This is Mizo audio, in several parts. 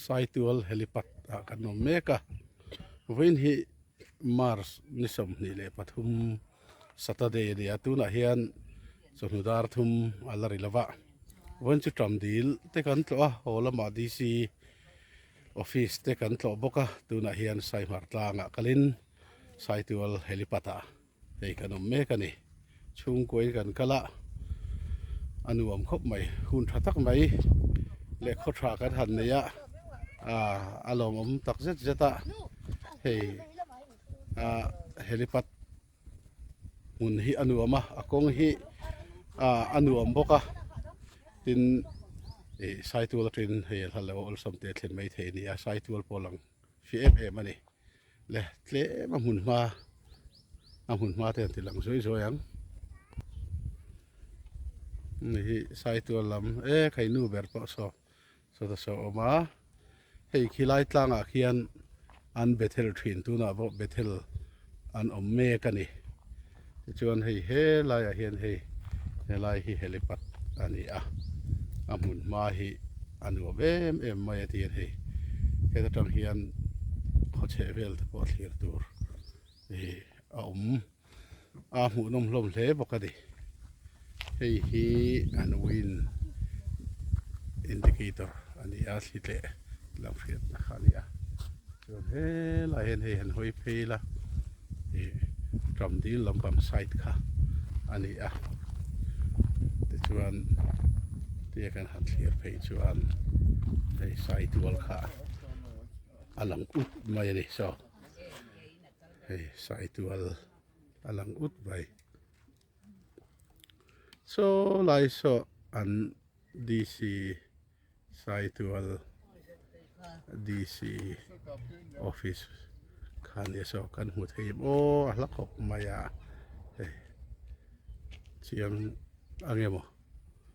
Saitual helipad ah kan awm mek a vawiin hi March ni sawmhnih leh pathum. Saturday a ni a, tunah hian chawhnu dar thum a la ri lo va, vawiin chu ṭam dil te kan tlawh a, haw lama DC office te kan tlawh bawk a, tunah hian Saihmar tlangah kalin Saitual helipad ah hei kan awm mek a ni. Chhungkuain kan kal a, a nuam khawp mai, hun ṭha tak mai leh khaw ṭha kan han nei a, a lawmawm tak zet zet a, hei. ah helipad hmun hi a nuam a a kawng hi ah a nuam bawk a tin ih saitual aṭangin hei a hla loh a awlsam teh a thlen mai thei a ni a saitual pawh a lang fih em em a ni le tlem a hmun hma a hmun hma te an ti lang zuai zuai ang ni hi saitual lam e kheihnu ber pawh saw. Sawta saw awm a, hei khi lai tlangah khian an Bethel ṭhin tunah pawh Bethel an awm mek a ni. Tichuan hei helaiah hian hei helai hi helipad a ni a, a hmun hma hi a nuam em em mai a tiin hei heta ṭang hian khaw chheh vel te pawh a thlir tur hi a awm. a hmuh nawm hlawm hle bawk a ni hei hi an win indicator a ni a thli tleh lam hriatna kha a ni a chuan he lai hian hei han hawi phei ila ih ṭam dil lampang side kha a ni a tichuan tia kan han thlir phei chuan hei side wall kha a lang up mai a ni so Hei saitual a lang ut mai. Saw lai saw an DC saitual DC office kha nia saw kan hmu thei maw a hla khawp mai a. Hei chiang ange maw.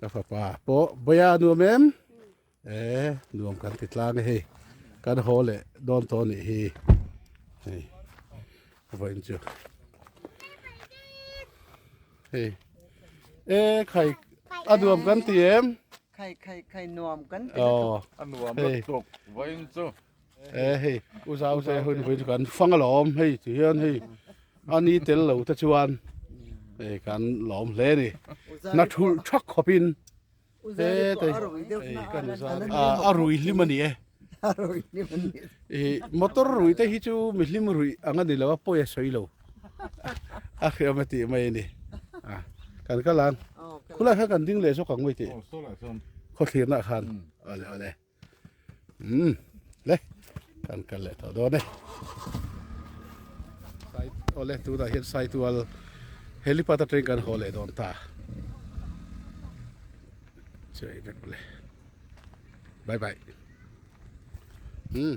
ka fapa pawh boya nuam em e nuam kan ti tlang e hei kan haw leh dawn tawh nih hi hei vawiin chu hei e khai a nuam kan ti em khai khai khai nuam kan ti a nuam lutuk vawiin chu e hei u zau te hun hui chu kan fang alawm hei chu hian hei ani tel lo te chuan hei kan lawm hle ni na thul thak khawp in te te kan a a rui hlim ani e e motor rui te hi chu mi hlim rui anga ni lo a pawia sawi lo a hriam ati mai ni a kan kalan khulai khan kan ding le zawk ang mai ti khaw thlirna khan ale ale umm le kan kal leh tawh dawn e awle tunah hian saitual helipad atang in kan haw leh dawn ta chei vek awle bye bye umm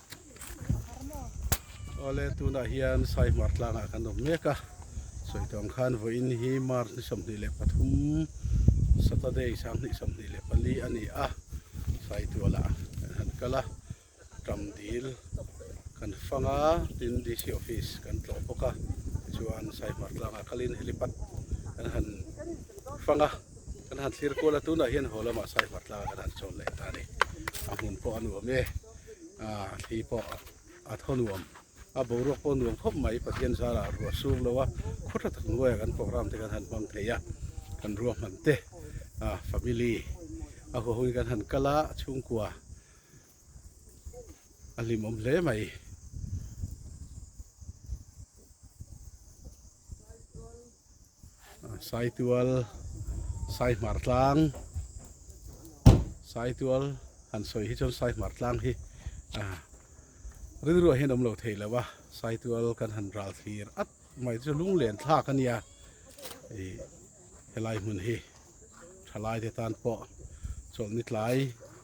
Awle tunah hian sai hmar tlangah kan awm mek a, sawi tuam khan vawiin hi March ni sawmhnih leh pathum Saturday sanghnih sawmhnih leh pali a ni a, sai tualah kan han kal a, ṭam dil kan fang a tin DC office kan tlawh bawk a, tichuan sai hmar tlangah kalin helipat kan han fang a, kan han thlir kual a, tunah hian haw lamah sai hmar tlangah kan han chawn leh ta a ni, a hmun pawh a nuam e. ah khi pawh a thaw nuam a boruak pawh nuam khawp mai pathian zala a ruah suk lo a khaw tha tak hnuaia kan program te kan han hmang thei a kan ruahman te ah family a huahawngin kan han kal a a chhungkua a hlimawm hle mai. Saitual, Saihmartlang, Saitual han sawi hi chuan Saihmartlang hi rilruah hian awm lo thei lo a, Saitual kan han ral thlir at mai chu lunglen thlak a nia, helai hmun hi thalaite tan pawh chawlhni tlai,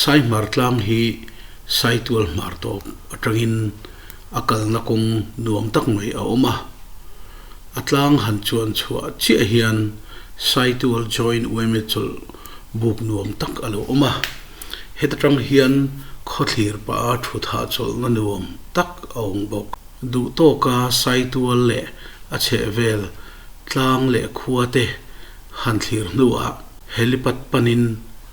Saihmar tlang hi saitual hmar tawp atangin a kalna kawng nuam tak mai a awm a. A tlang han chuan chhuah chiah hian saitual joint uaime chawlh buk nuam tak a lo awm a. Heta tang hian khawthlir paha thuthah chawlhna nuam tak a awm bawk. Duhtawka saitual leh a chhehvel tlang leh khuate han thlir hnuah helipad panin,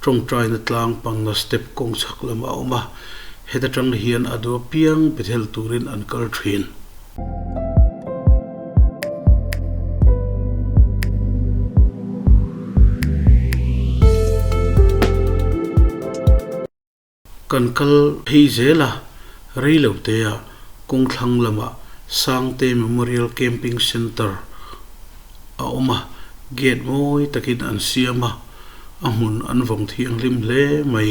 Tawngtaina tlang pangna step kawng chak lam a awm a, heta tang hian a dua piang Bethel turin an kal thin. Kan kal phei zel a, Reilotea kawngthlang lamah Sangte Memorial Camping Centre a awm a, gate mawi takin an siam a, a hmun an vawng thianghlim hle mai.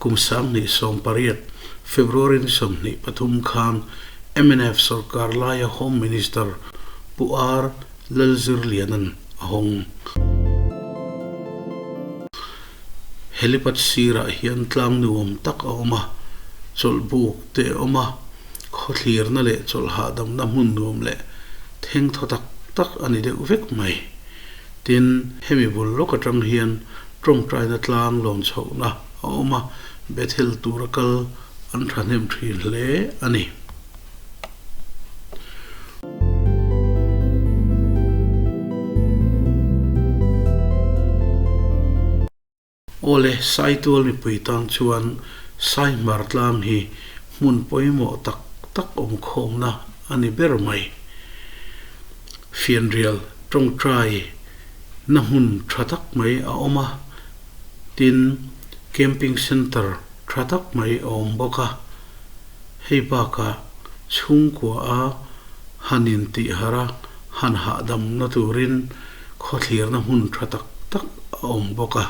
Kum Sanghnih sawm pariat, February ni sawmhnih pathum khan mnf sawrkar laia Home Minister Pu R Lalzirliana'n a hawng. Helipad sirah hian tlang nuam tak a awm a, chawlhbuk te a awm a, khawthlirna leh chawlh hahdamna hmun nuam leh thengthaw tak tak a ni deuh vek mai. Tin, hemi vul lawk atang hian tawngtaina tlang lawmchhohna a awm a, Bethel tura kal an thahnem thin hle a ni. Awle, saitual mipui tan chuan sai hmar tlam hi hmun pawimawh tak tak awmkhawmna a ni ber mai. Fianrial tawngtai na hmun tha tak mai a awm a, tin, camping centre tha tak mai a awm bawk a. Hei baka chhungkuaha han intihhar a, han hahdamna turin khawthlirna hmun tha tak tak a awm bawk a.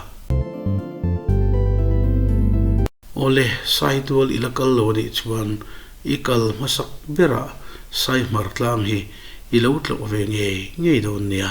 Awle, saitual ila kal lo anih chuan i kal hmasak berah saihmar tlang hi i lo tlawh ve ngei ngei dawn nia.